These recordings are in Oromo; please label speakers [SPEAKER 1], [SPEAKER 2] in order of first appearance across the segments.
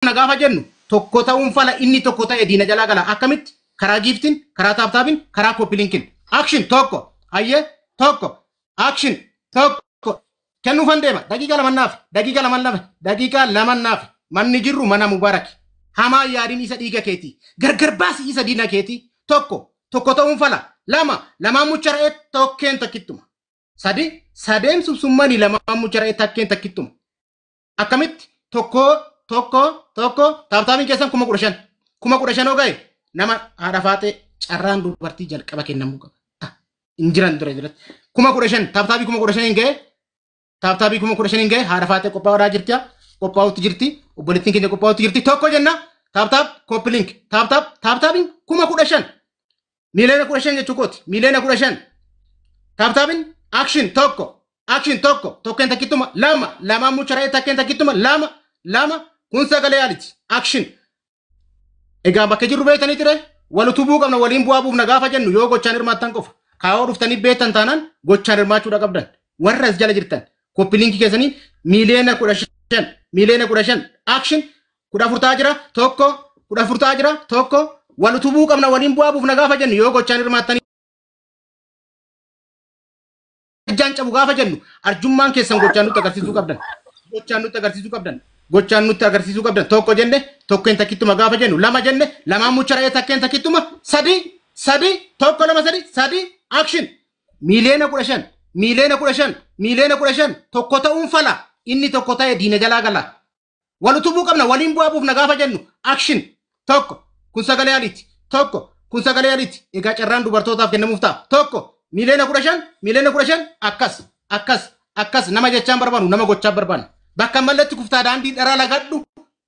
[SPEAKER 1] kana gaafa jennu tokko ta'uun fala inni tokko ta'e diina jalaa gala akkamitti karaa giiftiin karaa taaptaabiin karaa koppilinkin action tokko hayyee tokko action tokko kennuufan deema daqiiqaa laman naaf daqiiqaa laman lama daqiiqaa laman naaf manni jirru mana mubaaraki hamaa yaadin isa dhiiga keetii gargar baasi isa diina keetii tokko tokko ta'uun fala lama lamaan mucha ra'ee tokkeen takkittuma sadi sadeen subsummani lamaan mucha ra'ee takkeen takkittuma akkamitti tokkoo tokko tokko taaptaabiin keessan kuma kudha shan kuma kudha shanoo ga'e nama haadha faaxee carraan dubartii jalqaba kennamuu qaba. Ah, Hin jiran dura jiratti kuma kudha shan taaptaabii kuma kudha shan hin ga'e taaptaabii kuma kudha shan hin ga'e haadha faaxee qophaa'aa jirti qophaa'utti jirti obboleettiin keenya qophaa'utti jirti tokko jenna taaptaab kooppi link taaptaab taaptaabiin kuma kudha shan Miiliyoona kudha shan jechuu kooti. Miiliyoona kudha shan. Taaptaapin action tokko. Action tokko. Tokkeen takkittuma lama. Lama mucharee takkeen takkittuma lama. Lama kun sagalee yaaliti. Action. Egaa bakka jirru beektanii ture wal utubuu qabna waliin bu'aa buufna gaafa jennu yoo gochaan hirmaattan qofa. Kaayoo dhuftanii beektan taanaan gochaan hirmaachuudha qabdan. Warra as jala jirtan koppi liinkii keessaniin miiliyoona kudha shan miiliyoona kudha shan action kudha afur ta'a jira tokko kudha afur ta'a jira tokko wal utubuu qabna waliin bu'aa buufna gaafa jennu yoo gochaan hirmaattanii ijaan cabu gaafa jennu arjummaan keessan gochaan nutti agarsiisuu qabdan gochaan nutti agarsiisuu qabdan gochaan nutti agarsiisuu qabdan tokko jenne tokkeen takkittuma gaafa jennu lama jenne lamaan mucha ra'ee takkeen takkittuma sadii sadii tokko lama sadii sadii action miiliyoona kudha shan miiliyoona kudha shan miiliyoona kudha shan tokko ta'uun fala inni tokko ta'e diina jalaa gala Wal utubuu qabna waliin bu'aa buufna gaafa jennu action tokko kun sagalee aliiti tokko kun sagalee aliiti egaa carraan dubartootaaf kennamuuf ta'a tokko miiliyoona kudha shan miiliyoona kudha shan akkas akkas akkas nama jechaan barbaannu nama gochaa barbaanna bakka malletti kuftaa daandii dharaa lagadhu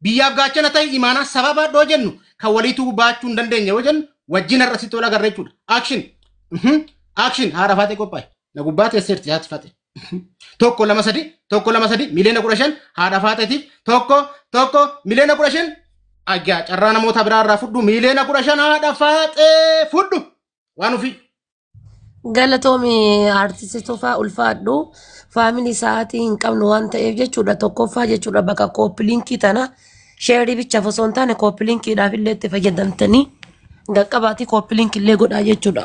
[SPEAKER 1] biyyaaf gaachana ta'e imaanaa sababa dhoo jennu kan waliituu baachuu hin dandeenye yoo jennu wajjin har'a sitti wal agarra jechuudha action action haadha faatee qophaa'e na gubbaa teesseerti haati faatee. tokko lama sadi tokko lama sadi miliyoona kudha shan haadha faaxeetiif tokko tokko miliyoona kudha shan ajjaa carraa namoota biraa irraa fudhu miliyoona kudha shan haadha faaxee fudhu waan ofii
[SPEAKER 2] Galatoomi artisti Tufaa ulfaadhu faamilii sa'aatii hin qabnu waan ta'eef jechuudha tokkoffaa jechuudha bakka kooppiliinkii tana sheerii bichaaf osoo hin taane kooppiliinkiidhaaf illee itti fayyadamtanii gaqqabaatii kooppiliinkii illee godhaa jechuudha.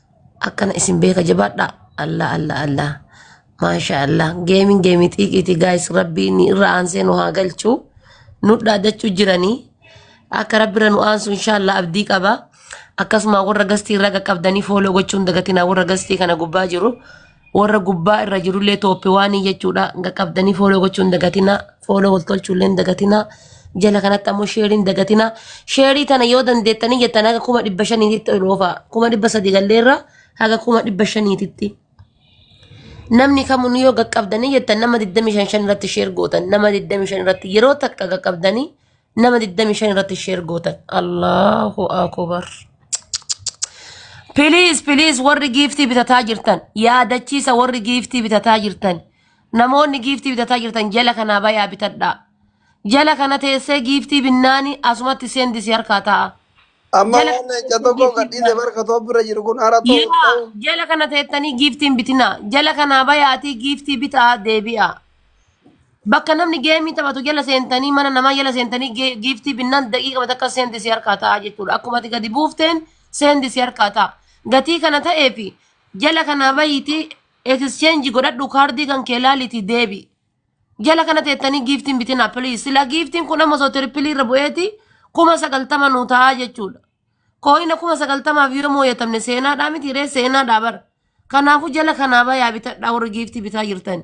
[SPEAKER 2] akkana isin beeka jabaadha allah allah allah maasha allah geemin geemii xiiqiiti gaayis rabbii inni irra aansee nu haa galchu nu dhaadachuu jiranii akka rabbirra nu aansu inshaallah abdii qaba akkasuma warra gastii irra qaqqabdanii fooloo gochuun dagatinaa warra gastii kana gubbaa jiru Warra gubbaa irra jirullee tooppi waanii jechuudha. Nga qabdanii fooloo gochuun dagatinaa. Fooloo wal tolchuullee dagatinaa. Jala kanatti ammoo sheeriin dagatinaa. Sheerii tana yoo dandeettanii jettan haga kuma dhibba shaniititti ol oofaa. Kuma dhibba sadii galleerra haga kuma dhibba shaniititti. Namni kamuu yoo gaqqabdanii jettan nama 25 irratti sheer gootan nama 25 irratti yeroo takka gaqqabdanii Nama 25 irratti share gootan. Allahu akubar. Please, please warri giiftii bitataa jirtan. Yaadachiisa warri giiftii bitataa jirtan. Namoonni giiftii bitataa jirtan jala kanaa bayaa bitadhaa. Jala kana teessee giiftii binnaani asumatti seendisi harkaa ta'a. Amma Jala waan
[SPEAKER 3] leenca tokko giiftii gadhiise binnaani. barka too bira jiru kun hara ta'u Yaa ta'u. jala kana teettanii
[SPEAKER 2] giiftiin bitinaa. Jala kanaa bayaatii giiftii bitaa deebi'aa. Bakka namni geemii taphatu jala seentanii mana namaa jala seentanii ge- giiftii binnaan daqiiqama takka seendi si harkaa ta'a jechuudha. Akkuma ati gadi buufteen seendi si harkaa ta'a. Gatii kana ta'ee fi jala kanaa bahiitii exchange godhadhu kaardii kan kee laaliitii deebi. Jala kana teettanii giiftiin bitinaa please. Sila giiftiin kun amma osoo tiripilii irra bu'eeti kuma sagaltama nuu ta'a jechuudha. Kooyina kuma sagaltamaaf yoo mooyatamne seenaadhaa miti ree seenaadhaa bara. Kanaafuu jala kanaa bayaa bitadhaa warri giiftii bitaa jirtani.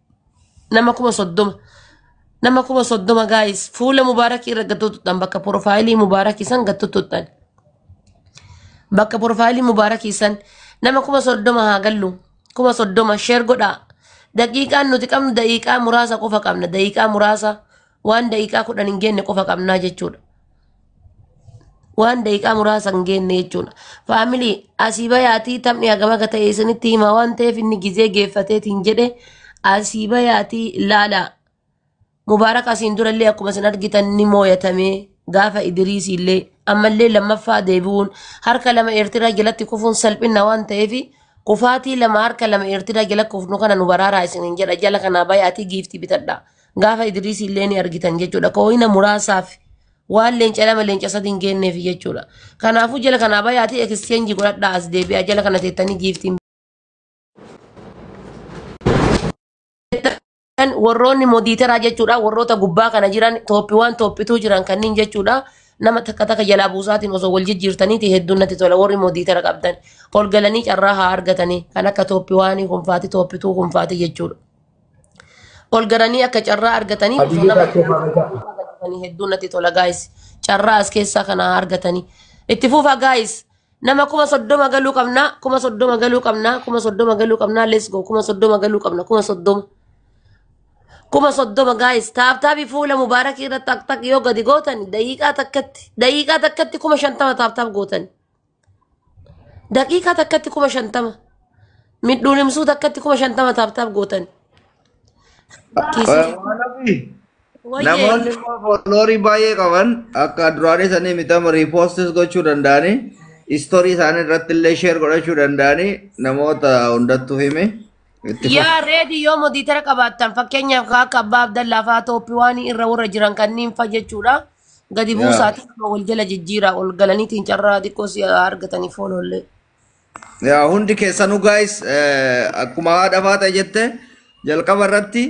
[SPEAKER 2] nama kuma soddoma nama kuma soddoma gaayis fuula mubaarakii irra gattottuudhaan bakka porofaayilii mubaarakii san gattottuudhaan bakka porofaayilii mubaarakii san nama kuma soddoma haa gallu kuma soddoma sheer godhaa daqiiqaan nuti qabnu daqiiqaa muraasa qofa qabna daqiiqaa muraasa waan daqiiqaa kudhan hin geenne qofa qabnaa jechuudha. Waan daqiiqaa muraasa hin geenne jechuudha. Faamilii asii bayaatii taphni hagam akka ta'e isinitti hima waan ta'eef inni gizee geeffateetiin jedhe asii bayaatii ilaalaa. Mubaarak asiin durallee akkuma isin argitan ni mooyatame gaafa Idiriis illee ammallee lammaffaa deebi'uun harka lama Eertiraa jalatti kufuun salphina waan ta'eef kufaatii lama harka lama Eertiraa jala kufnu kana nu baraaraa isiniin jedha jala kanaa bayaatii giiftii bitadha. Gaafa Idriis illee ni argitan jechuudha. Kooyina muraasaaf waan leenca lama leenca sadii hin geenneef jechuudha. Kanaafuu jala kanaa bayaatii ekisteenjii godhadhaa as deebi'aa jala kana teettanii giiftiin Kan warroonni modiiteraa jechuudha warroota gubbaa kana jiran tooppiiwwan tooppituu jiran kanneen jechuudha nama takka takka jalaa buusaatiin osoo wal jijjiirtaniiti hedduun natti tola warri modiitera qabdan ol galanii carraa haa argatanii kan akka tooppiiwwaanii kunfaati tooppituu kunfaati jechuudha. ol garanii akka carraa argatanii osoo Habibi nama Bakkee Faamata. argatanii hedduu natti tola gaayis carraa as keessaa kana haa argatanii itti fufa gaayis nama kuma soddoma galuu qabnaa kuma soddoma galuu qabnaa kuma soddoma galuu qabnaa let's go kuma soddoma galuu qabna kuma soddoma kuma soddoma gaayis taaptaabii fuula mubaarakii irratti taktak yoo gadi gootan daqiiqaa takkatti daqiiqaa takkatti kuma shantama taaptaap gootan Daqiiqaa takkatti kuma shantama. Midhuun himsuu takkatti kuma shantama taaptaap gootan. Kiisii. Waanabii.
[SPEAKER 4] Wayyee. Namoonni immoo fooloorii baay'ee qaban akka duraanii sanii mitama riipoostis gochuu danda'anii istoorii isaanii irratti illee sheer godhachuu danda'anii namoota hundattuu himi. Itti fufi. Yaa
[SPEAKER 2] reedii yoo modiitara qabaattan fakkeenyaaf kan akka abbaa abdallaa fa'aa tooppiiwaanii irra warra jiran kanneen fa'a jechuudha. Gadi Yaa. buusaati nama wal jala jijjiiraa ol galaniitiin carraa xiqqoo si argatanii fooloollee. Yaa
[SPEAKER 4] hundi keessanuu guys eh, akkuma haadha faata jette jalqaba irratti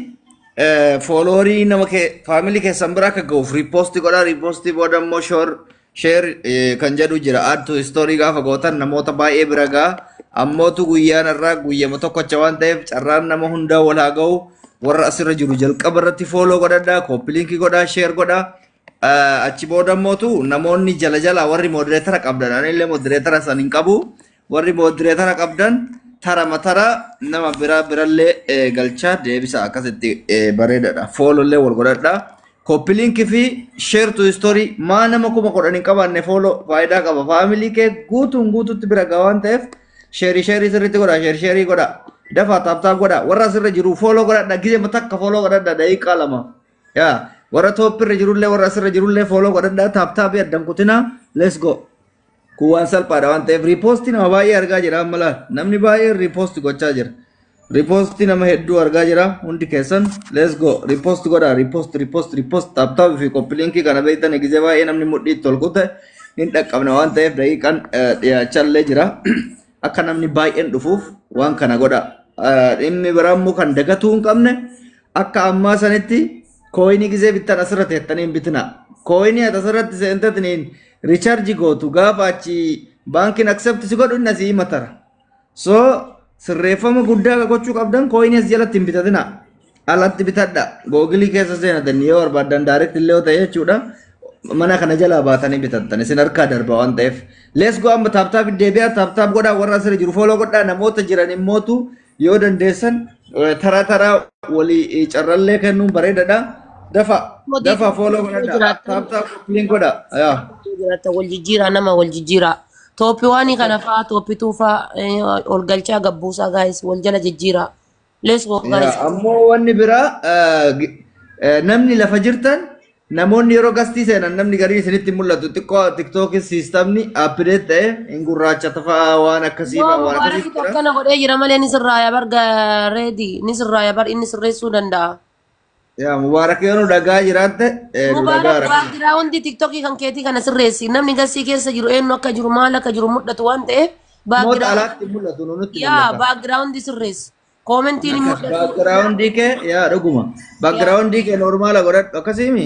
[SPEAKER 4] eh, fooloorii nama kee faamilii keessan bira akka ga'uuf riippoostii godhaa riippoostii booda immoo shoor sheer eh, kan jedhu jira add to story gaafa gootan namoota baay'ee bira ga'a ammootu guyyaan irraa guyyama tokkocha waan ta'eef carraan nama hundaa wal haa ga'u warra asirra jiru jalqaba irratti fooloo godhadhaa kooppiliinkii godhaa sheer godhaa Ah, achi booda immootu namoonni jala jala warri moodireetara qabdan anillee moodireetara san hin qabu warri moodireetara qabdan tara matara nama bira birallee eh, galchaa deebisa akkasitti eh, bareedadha foolollee wal godhadhaa kooppiliinkii fi sheer tu istoorii maa nama kuma kudhan hin qabaanne fooloo faayidaa qaba faamilii kee guutuun guututti bira gahaan ta'eef Sheerii sheerii sirriitti godhaa sheerii sheerii godhaa. Dafaa taaptaap godhaa warra asirra jiru fooloo godhadha gizema takka fooloo godhadha daqiiqaa lama. Yaa warra tooppirra jirullee warra asirra jirullee fooloo godhadha taaptaapii addan kutinaa let's go. Kun waan salphaadha waan ta'eef riipoosti nama baay'ee argaa jira amma laal namni baay'een riipoosti gochaa jira. Repost nama hedduu argaa jira hundi keessan let's go repost godha repost repost repost taaptaap fi koppi linkii kana beektan gizee baay'ee namni mudhii itti ol kute hin dhaqqabna waan ta'eef daqiiqaan eh, dhiyaachaa illee jira akka namni baay'een dhufuuf waan kana godha Eh, dhimmi biraa immoo kan dagatuu hin qabne akka ammaa sanitti kooyinii gizee bittan asirratti hettanii hin bitina kooyinii ati asirratti seentatiniin richaarji gootu gaafa achi baankiin aksept si godhu inni asii himatara So sirreeffama guddaa akka gochuu qabdan kooyinees jalatti hin bitatina. Alatti bitadha. Googilii keessa seenatan yoo barbaadan direct illee yoo ta'e jechuudha. Mana kana jalaa baatanii bitattan isin harkaa darba waan ta'eef. Let's go amma taaptaap deebi'aa taaptaap godhaa warra asirra jiru fooloo godhaa namoota jiran immootu yoo dandeessan eh, taraa taraa walii eh, carrallee kennuun bareedadha. Dafa dafa fooloo godhadha. Taaptaap liin godha. Yaa. Jiraata wal
[SPEAKER 2] jijjiiraa nama wal jijjiiraa. Tooppi waanii kana Tooppi. faa, tooppi tuu faa, eh, ol galchaa gabbuusaa gaayis wal jala jijjiiraa. Let's go Yaa gaayis. ammoo wanni biraa
[SPEAKER 4] eh, gi- eh, namni lafa jirtan namoonni yeroo gastii seenan namni gariin isinitti hin mul'atu xiqqoo tiktookis siistamni appideet ta'e hin gurraacha tafaa waan akkasii Yoo fa'aa waan akkasii mubaarakitu jira. akkana godhee jira malee
[SPEAKER 2] ni sirraaya bar ga- reedi ni sirraaya bar inni sirreessuu danda'a. Yaa
[SPEAKER 4] Mubaarak yoo nu dhagaa jiraatte eh, nu dhagaa Mubaarak rakkina.
[SPEAKER 2] baagiraawundi tiktokii kan keetii kana sirreessi. Namni gasii keessa jiru eenyu akka jiru maal akka jiru mul'atu waan ta'eef Moota baagiraawundi alaatti mul'atu nu nutti yaa mul'ata. baagiraawundi sirreessi. Koomentiin hin Akkas mul'atu. baagiraawundii kee
[SPEAKER 4] yaa dhuguma. Baagiraawundii kee normaala godhadhu akkasiimi.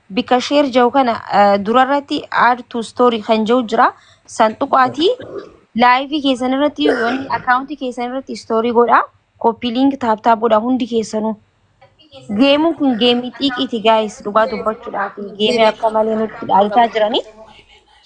[SPEAKER 5] bika share jau kana eh, durarratti add to story kan jau jira san tuqaatii live keessan irratti yoon account keessan irratti story godha copy link tap tap godha hundi keessanuu geemuun kun geemii xiiqiiti guys dhugaa dubbachuudhaaf geemii akka malee nutti dhaalchaa jiranii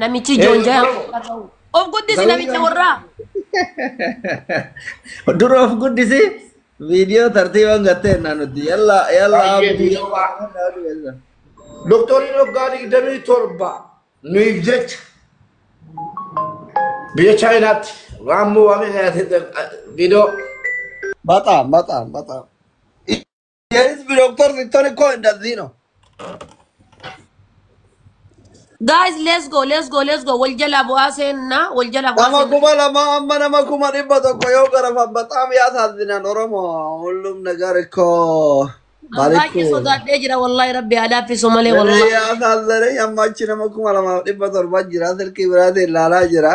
[SPEAKER 2] Namichi Ee, joonjaa yoo- yaa ta'u. Of guddisi Garuu namicha yoo- warraa.
[SPEAKER 4] Dura of guddisi viidiyoo tartiibaan gattee naa nuti yalla yalla Baay'ee abdii. viidiyoo baay'ee.
[SPEAKER 1] Doktoriin waggaa digdamii torba nuuf jecha biyya Chaayinaatti waan mo'ame viidiyoo Bataam bataam
[SPEAKER 3] bataam. Yeris bir doktor siktoni ko indazino.
[SPEAKER 2] Guys, let's go, let's go, let's go. Wal jala bu'aa seenna, wal jala bu'aa Nama seenna. kuma lama
[SPEAKER 3] amma
[SPEAKER 2] nama
[SPEAKER 3] kuma dhibba tokko yoo garafan baxaam yaa saazinan oromo hullum nagar ko An baay'ee
[SPEAKER 2] balikku. sodaadhee jira wallahi rabbi haa laaffisu malee Yeree wallahi. yaa saazinan amma
[SPEAKER 3] achi nama kuma lamaaf dhibba torba jira silkii biraatiin ilaalaa jira.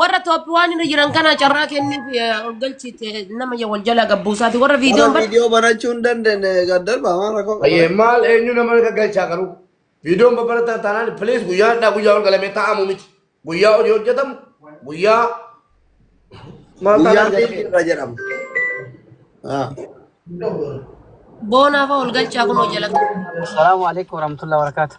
[SPEAKER 2] Warra Tooppiwaan irra jiran kana carraa kenniif eh, ol galchiite nama ya wal jala gabbuusaati. Warra Warra viidiyoon bar viidiyoo banachuu hin dandeenye
[SPEAKER 3] gad darbaa maal rakkoo qaba? Ayyee maal eenyu
[SPEAKER 1] nama akka galchaa garuu viidiyoon babalataa taanaan piliis guyyaa hadhaa guyyaa ol galamee taa'amu miti guyyaa hojii hojjetamu guyyaa maal Guyyaa taanaan liitii irra jedhama.
[SPEAKER 3] Ah.
[SPEAKER 2] boonaaf ol galchaa kunoo jala. Assalamu alaikum
[SPEAKER 6] warahmatullahi wabarakatuh.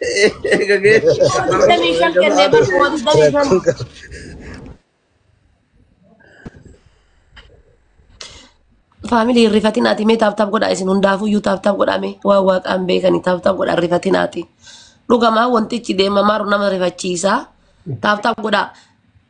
[SPEAKER 2] Digdamii shan kennee bar kuma digdamii shan. Rakkoon qaba. Faamilii hin rifatinaati mee taaptaap godhaa isin hundaafuu iyyuu taaptaap godhaa mee waan waaqaan beekanii taaptaap godhaa hin rifatinaati. Dhugamaa wantichi deemamaa jiru nama rifachiisaa taaptaap godhaa.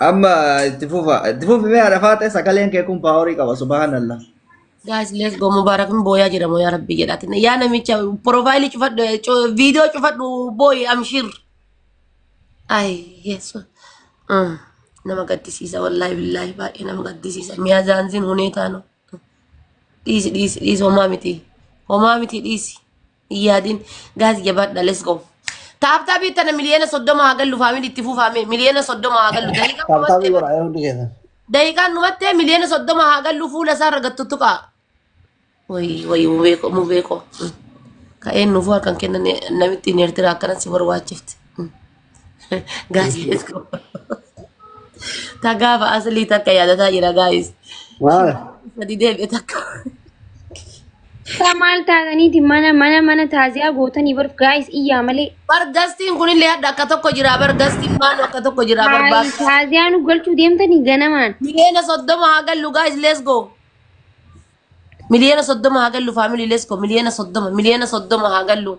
[SPEAKER 4] Amma itti fufa. Itti fufi mee haadha faaxee sagaleen kee kun paaworii qaba subhaanallah. Guys, let's
[SPEAKER 2] go. Mubarak hin booyaa jedhamu yaa rabbi jedhaatin. Yaa namicha profaayilii cufadhu, cu- viidiyoo cufadhu booyi amshir. Ay, yesu. Mm. Nama gaddisiisa wallaahi billaahi baay'ee nama gaddisiisa. Miyaa zaanziin hunee taanu. Dhiisi dhiisi dhiisi homaa miti. Homaa miti dhiisi. hin yaadin gaas jabaadha let's go taaptaabii tana miliyoona soddoma haa gallu faamili itti fuufaame miliyoona soddoma haa gallu daqiiqaa Taaptaabii dhumattee godha yoo
[SPEAKER 3] hundi keessan. daqiiqaan dhumattee
[SPEAKER 2] miliyoona soddoma haa gallu fuula isaa irra gattu tuqaa wayi wayi mubeeko mubeeko ka'een nuufuu harkan kennan namittiin eertiraa akkanan si barbaachifte Gaazii let's go. Takkaa fa'a asilii takka yaadataa jira gaayis. Maal? Sadi deebi'e
[SPEAKER 3] takka.
[SPEAKER 2] Isaa
[SPEAKER 5] maal taataniiti mana mana mana taaziyaa gootanii barf gaayis iyyaa malee. Bar gastiin kunillee
[SPEAKER 2] hadda akka tokko jira bar gastiin maanu akka tokko jira bar Haay baas. taaziyaa nu
[SPEAKER 5] galchuu deemtanii ganamaan. Miliyoona soddoma
[SPEAKER 2] haa gallu gaayis let's go. Miliyoona soddoma haa gallu faamilii let's go. Miliyoona soddoma miliyoona soddoma haa gallu.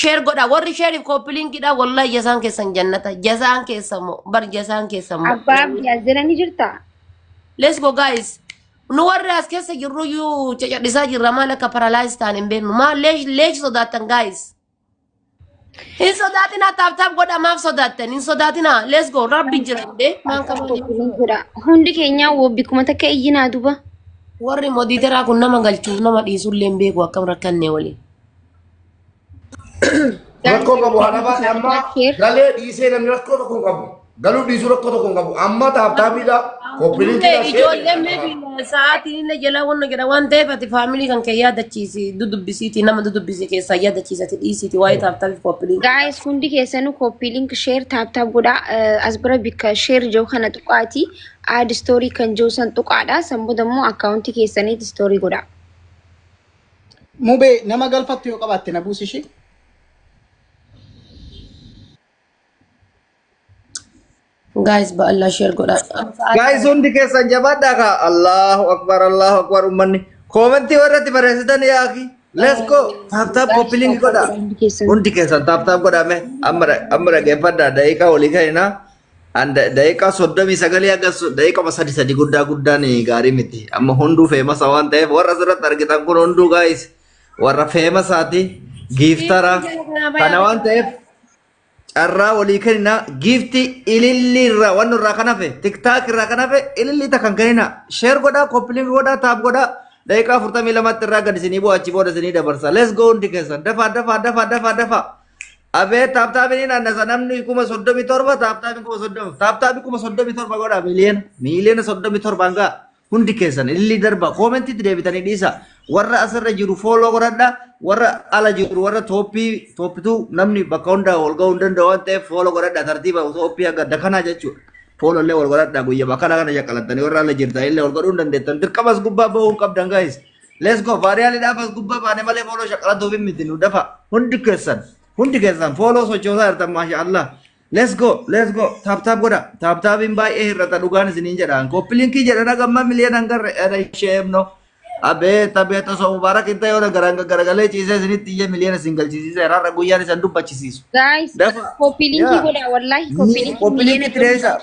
[SPEAKER 2] Sheer godha warri sheeriif kooppilinkiidha wallahi jasaan keessan jannata jasaan keessan moo bar jasaan keessan moo Abbaa Abdii as jala ni
[SPEAKER 5] jirta? let's go
[SPEAKER 2] guys nu warri as keessa jirru iyyuu cacadhisaa jirra maal akka paralyze ta'an hin beeknu maal leesh leesh sodaattan guys hin sodaatinaa taaptaap godha maaf sodaattan hin sodaatinaa let's go rabbi jira hin bee maan qabaan hin Kooppiin sodaatu. godha. Hundi keenyaa
[SPEAKER 5] wobbi kuma takka iyyinaa duba. warri
[SPEAKER 2] modiiteraa kun nama galchuuf nama dhiisullee hin beeku akkam rakkannee waliin Rakkoo
[SPEAKER 7] qabu haadha baate amma galee dhiisee namni rakkoo tokko hin qabu. Galuu dhiisuu rakkoo tokko hin qabu. Amma taaptaapiidha. Koppiliikiidha. Dubbee ijoollee meebi
[SPEAKER 2] sa'aatiin inni jalaa wanna jedha waan ta'eef ati faamilii kan kee yaadachiisi dudubbisiiti nama dudubbisi keessaa yaadachiisati dhiisiiti waa'ee taaptaafi koppilii. Gaa'es hundi keessanuu
[SPEAKER 5] koppii link share taap taap godhaa Eh, as bira bikka share jiru kana tuqaati aad story kan jiru san tuqaadha san booda immoo akkaawuntii keessaniitti story godhaa. Mubee
[SPEAKER 1] nama galfattu yoo qabaatte na buusi ishee.
[SPEAKER 2] Guys ba'allaa share godha. Gaayis hundi
[SPEAKER 4] keessan jabaadhaa kaa Allahu akbar Allahu akbar ummanni koomentii warratti barreessitan yaaki let's go taap taap koppiliingi godhaa hundi keessan taap taap godhaa mee amma dha- amma dhaggeeffadhaa daqiiqaa walii ka'inaa An da- daqiiqaa soddomii sagalii haga so- daqiiqama sadi sadi guddaa guddaan gaarii miti. Amma hunduu feemasa waan ta'eef warra asirratti argitan kun hunduu gaayis warra feemasaati giiftara kana waan ta'eef carraa walii kenninaa giifti ilillii irraa waan irraa kan hafe tiktaak irraa kan hafe ilillii takka hin kenninaa sheer godhaa koppiliin godhaa taap godhaa daqiiqaa afurtamii lamatti irraa gad isinii bu'aa achi booda isinii dabarsa let's go hundi keessan dafaa dafaa dafaa dafaa dafaa Abeet taaptaabiin hin annasa namni kuma soddomi torba taaptaabiin kuma soddoma taaptaabii kuma soddomi torba godha miiliyoona miiliyoona soddomi torbaan ga'a hundi keessan illi darba koomentitti deebitanii dhiisa warra asirra jiru fooloo godhadha warra ala jiru warra tooppii tooppituu namni bakka hundaa wal ga'uu hin danda'u waan ta'eef fooloo godhadha tartiiba tooppii akka dakanaa jechuudha. Fooloo illee wal godhadha guyyaa kana kana shaqqalattanii warra ala jirtan illee wal godhuu hin dandeettan dirqamas gubbaa ba'uu hin qabdan gaa'is. Let's go. Vaariyaali dhaaf as gubbaa baane malee fooloo shaqalatuu fi miti nu dafa. Hundi keessan. Hundi keessan fooloo sochoosaa jirtan maasha Allah. Let's go. Let's go. Taap taap godha. Taap taapiin baay'ee hir'ata dhugaan isiniin jedhaan. Kooppiliinkii jedhan hagamma miliyoon hangarre era ishee himno. Abeet abeet osoo mubaarak hin ta'e yoo garaan garagalee ciisee isinitti iyyee miliyoona isin galchisiise har'a guyyaan isan dubbachisiisu. Guys, Dafa.
[SPEAKER 5] copy link Yeah. godha wallahi copy link. Kooppiliinkii
[SPEAKER 4] tireessa.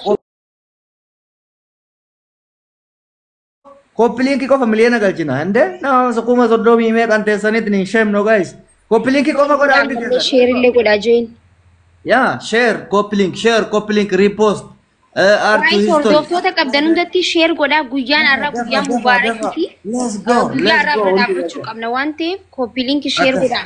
[SPEAKER 4] Copy link qofa miliyoona galchina. Hinde nama kuma soddomii meeqan teessanitti ni shame no guys. Copy link qofa godha hundi Ammallee keessan. sheer illee godhaa join.
[SPEAKER 5] Yeah,
[SPEAKER 4] share, copy link, share, copy link, repost. Uh, art to Waa'ee history.
[SPEAKER 5] hordoftoota qabdan hundatti sheer godhaa guyyaan har'aa guyyaa mubaarakii fi Let's go. guyyaa Let's har'aa go. bira dhaabbachuu qabna waan ta'eef kooppiiliinki sheer Akkas. godhaa.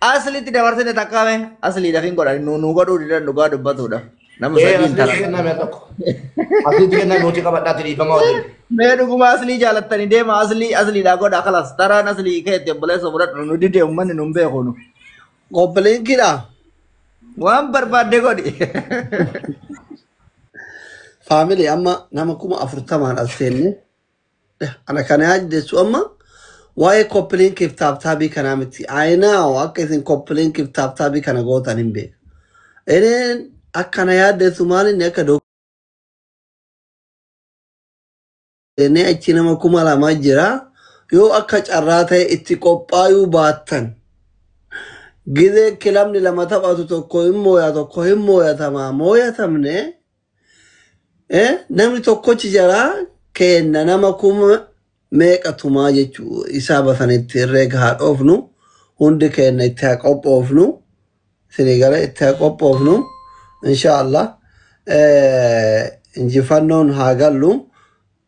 [SPEAKER 4] Aslitti dabarsite takkaa mee asliidhaaf hin godhan nu nu godhuu didan dhugaa dubbatuudhaaf. Nama Ee, sadii hin asliitti taran. kenname tokko.
[SPEAKER 7] Asliitti kenname nuti qabadhaatti dhiifama wajjin. Mee dhuguma aslii
[SPEAKER 4] jaalattanii deema aslii asliidhaa godha kalas taraan aslii keetti obboleessa fudhadhu nu dide uummanni nu hin beeku nu. Koppiliinkiidha. Waan barbaadde godhi.
[SPEAKER 3] Faamilii amma nama kuma afurtamaan as seenne Ana kana yaa jiddeessu amma waa'ee koppilinkiif taaptaabii kanaa miti. Ayinaawo akka isin koppilinkiif taaptaabii kana gootan hin beeku. Inni akkana yaaddeessu maal inni akka doonee achi nama kuma lama jira. Yoo akka carraa ta'e itti qophaayuu baattan gizee kilabni lama taphatu tokko hin mooya tokko hin mooyatama mooyatamne Eh, namni tokkochi jaraa keenna nama kuma meeqa tumaa jechuu isaa basanitti herreega haa dhoofnu hundi keenna itti haa qophoofnu isinii gala itti haa qophoofnu insha allah eh, injifannoon haa gallu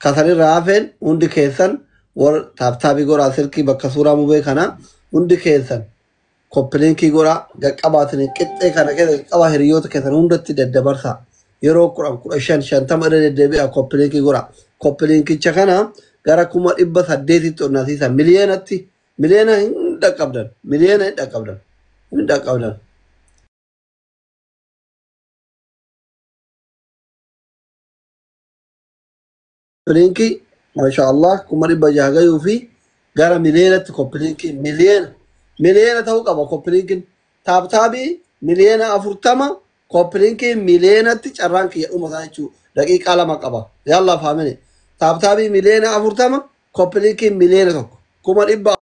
[SPEAKER 3] kasanirraa hafeen hundi keessan war taaptaabii goraa silkii bakka suuraa mubee kana hundi keessan Koppilinki godha, gad qabaatanii qixxee kana keessa qaba hiriyoota keessan hundatti daddabarsaa. Yeroo 10, 15, 50 irra deddeebi'aa koppilinki godha. Koppilinkicha kana gara kuma dhibba saddeetitti onnasiisa. Miliyoonatti, miliyoona hin dhaqqabdan, miliyoona hin dhaqqabdan, hin dhaqqabdan. Koppiliinkii masha Allah kuma dhibba jaha gayuu fi gara miliyoonatti koppiliinkii miliyoona miliyoona ta'uu qaba koppiliinkiin taaptaabii miliyoona afurtama koppiliinkii miliyoonatti carraan kiyya dhuma isaa jechuu daqiiqaa lama qaba yaallah faamine taaptaabii miliyoona afurtama koppiliinkii miliyoona tokko kuma dhibba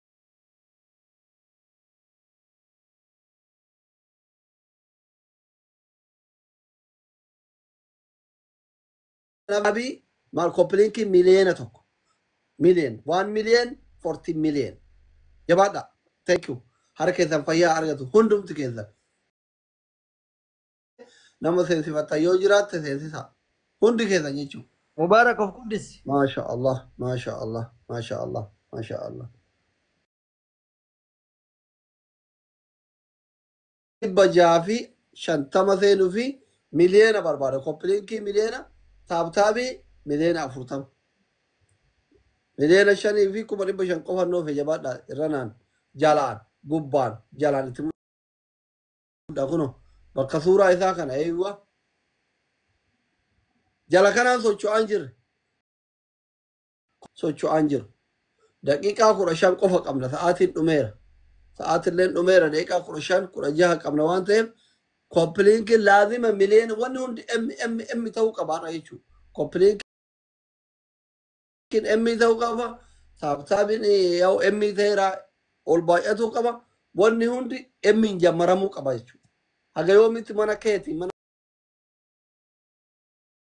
[SPEAKER 3] Rabii maal kopilinkii miliyeena tokko miliyen waan miliyen forti miliyen jabaadha thank you harka keessan fayyaa argatu hundumti keessan nama seensifattan yoo jiraatte seensisa hundi keessan jechuu Mubaarak of guddisi.
[SPEAKER 4] maasha allah
[SPEAKER 3] maasha allah maasha allah maasha allah 650 seenufi miliyoona barbaada kopilinkii miliyoona taabtaabii miliyoona 40 miliyoona 5 fi 500 qofa noofe jabaadha irranaan jalaan gubbaan jalaan itti mudda kuno bakka suuraa isaa kana eeywa jala kanaan socho'aan jirre socho'aan jiru. Daqiiqaa 15 qofa qabna sa'aatiin dhumeera. Sa'aatilleen dhumeera daqiiqaa 15 16 qabna waan ta'eef koppiliinkiin laazima miliyoona wanni hundi MMM ta'uu qaba har'a jechuudha. Koppiliinkiin M ta'uu qaba. Saabsaabiin yaa'u M ta'eera ol baay'atuu qaba. Wanni hundi M hin jammaramuu qaba jechuudha. Haga yoomitti mana keetii mana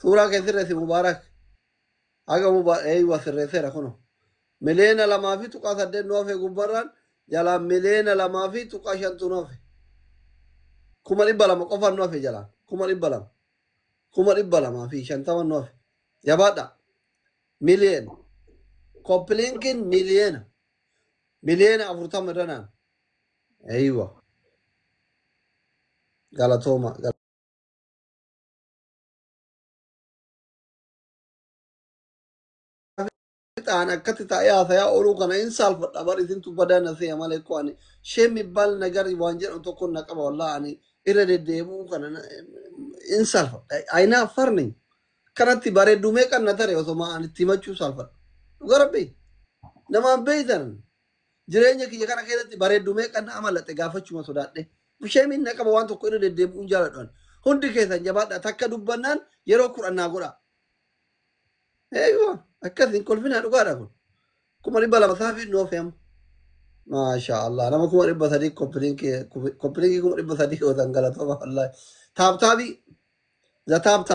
[SPEAKER 3] suuraa kee sirreessi mubaarak haga mubaa eeywa sirreesseera kuno miliyoona lamaa fi tuqaa saddeet nu hafe gubbarraan jalaan miliyoona lamaa fi tuqaa shantu nu hafe kuma dhibba lama qofaan nu hafe jalaan kuma dhibba lama kuma dhibba lamaa fi shantama nu hafe jabaadha miliyoona koppilinkiin miliyoona miliyoona afurtama irra naan eeywa galatooma ta'an akkatti taa'ee haasayaa ooluu kana hin saalfadha bar isintu badaa na seeya malee koo ani shee mibbaal nagar waan jedhamu tokko na qaba wallaa ani irra deddeebi'uu kana na- hin saalfadha ayinaa farni kanatti bareedduu meeqan na tare osoma ani itti himachuu saalfadha dhuga rabbi namaan beeytan Jireenya kiyya kana keessatti bareeddu meeqan na amalaxe gaafachuma sodaadhe. Sheemiin na qaba waan tokko irra deddeebi'uun jaaladhu ani. Hundi keessan jabaadhaa takka dubbannaan yeroo kudhan naa godhaa. Eeyyuma akkas hin kolfinaa dhugaadha kun. Kuma dhibba lama saafii hin oofee amma. Maashaa Allah nama kuma dhibba sadii koppiliinkii koppiliinkii kuma dhibba sadii yoo ta'an galatooma wallaahi. Taaptaabii za taaptaa.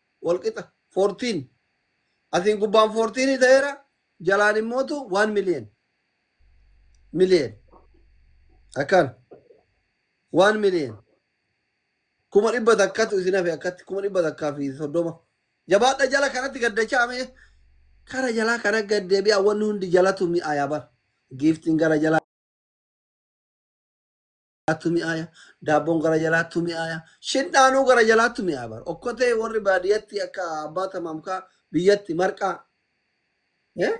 [SPEAKER 3] walqixa 14 asiin gubbaan 14 ta'eera jalaan immootu 1 million million akkaan 1 million kuma dhibba takkatu isin hafe akkatti kuma dhibba takkaa fi soddoma jabaadha jala kanatti gaddachaa mee kara jalaa kana gaddeebi'a wanni hundi jalatu mi'aayaa bara giiftiin gara jalaa jalaattu mi'aaya, daabboon gara jalaattu mi'aaya, shindhaanuu gara jalaattu mi'aaya bar. Okkotee warri baadiyyatti akka abbaa tamaamkaa biyyatti marqaa. Eh?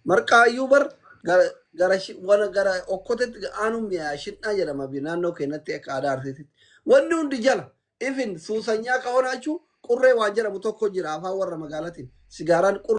[SPEAKER 3] Marqaa iyyuu bar gara gara shi- wana gara okkotetti aanuu mi'aaya shindhaa jedhama bi- naannoo keenyatti akka aadaa arsiititti. Wanni hundi jala ifin suusanyaa kahonaachuu qurree waan jedhamu tokko jira afaan warra magaalatiin sigaaraan qurree